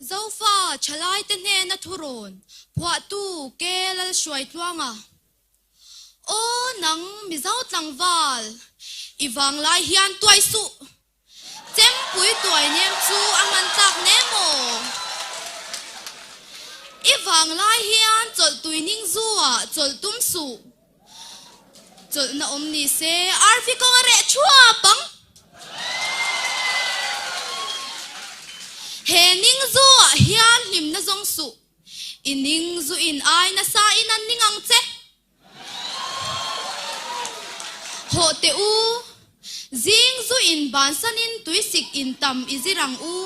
Zofa thalaite hnena thurawn phuahtu Ke Lalhruai Tluanga, Aw nang Mizo tlangval, i vanglai hian tuai suh, chengpui tuai nem chu a hman tlak hle maw? I vanglai hian chawlh tuining zu ah chawlh tum suh. Chawlhna awm ni se. Arvi kawnga reh thuap ang. He ning zu ah hian hlimna zawng suh. I ning zu in ai nasa in an ning ang che. Hawh teh u. Zing zu in ban san in tui sik in tam i zir ang u.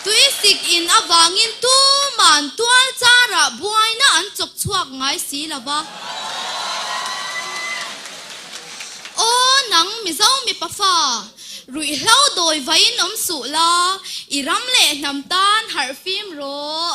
Tui sik in avang in tuman tual char ah buai na an chawk chhuak ngai si lo va. Aw nang mizo mipa fa, ruih hlo dawi vai in awm suh la, i ram leh hnam tan harh fim rawh.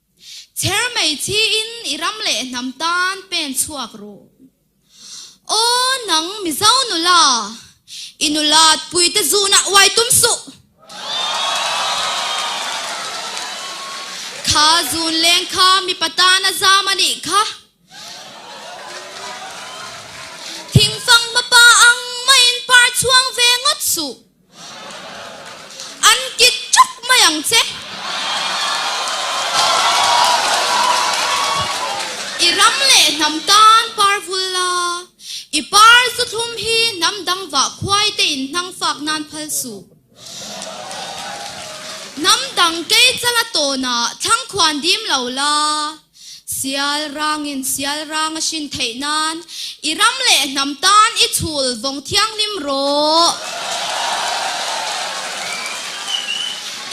Chher mai chi in i ram leh hnam tan pen chhuak rawh. Aw nang mizo nula, i nula pui te zun ah uai tum suh. Kha zun leng kha mipa tan a zam a nih kha. Thingfang hma pa ang mah in par chuang ve ngawt suh. An kik chuk mai ang che. I ram leh hnam tan par vul la, i par zu thlum hi hnam dang vah khuai te in hnang fak nan phal suh. Hnam dang kei chal a tawn ah thlang khuan dim lo la. Sialrangin sialrang a hrin theih nan i ram leh hnam tan i chhul vawng thianghlim rawh.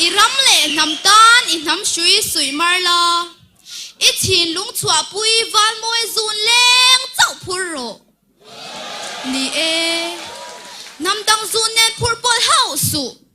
I ram leh hnam tan i hnam hrui suih mar la, i chhin lung chhuah pui valmawi zun leng chauh phur rawh ni e. Hnam dang zun nen phur pawlh hauh suh.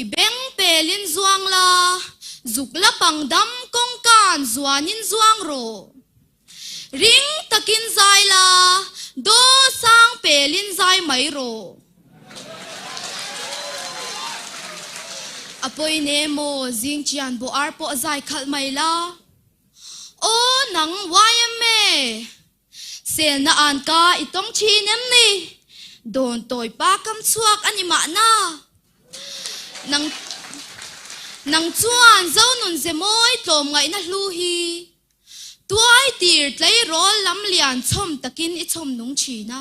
I beng pel in zuang la, zuk la pang dam kawng kan zuan in zuang rawh. Ring tak in zai la, daw sang pel in zai mai rawh. A pawi ne maw zing chian bo ar pawh zai khalh mai la. Aw nang YMA. Selna an ka i tawng thin em ni? Dawntawi pa kam chhuak a ni mahna nang nang chuan Zonun Zemawi tlawm ngaihna hlu hi tuai tir tleirawl lam lian chhawm takin i chhawm nung thin a.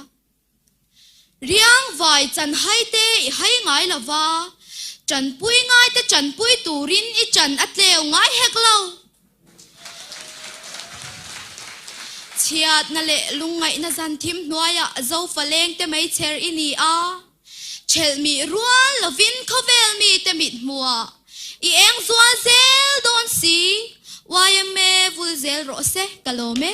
Riangvai chanhaite i hai ngai lo va, chanpui ngaite chanpui turin i chan a tleu ngai hek lo. Chhiatna leh lungngaihna zan thim hnuaiah Zofa lengte mei chher i ni a, chelh mih rual lovin khawvel mite mithmuah I eng zual zel dawn si. Yma vul zel rawh se ka lawm e.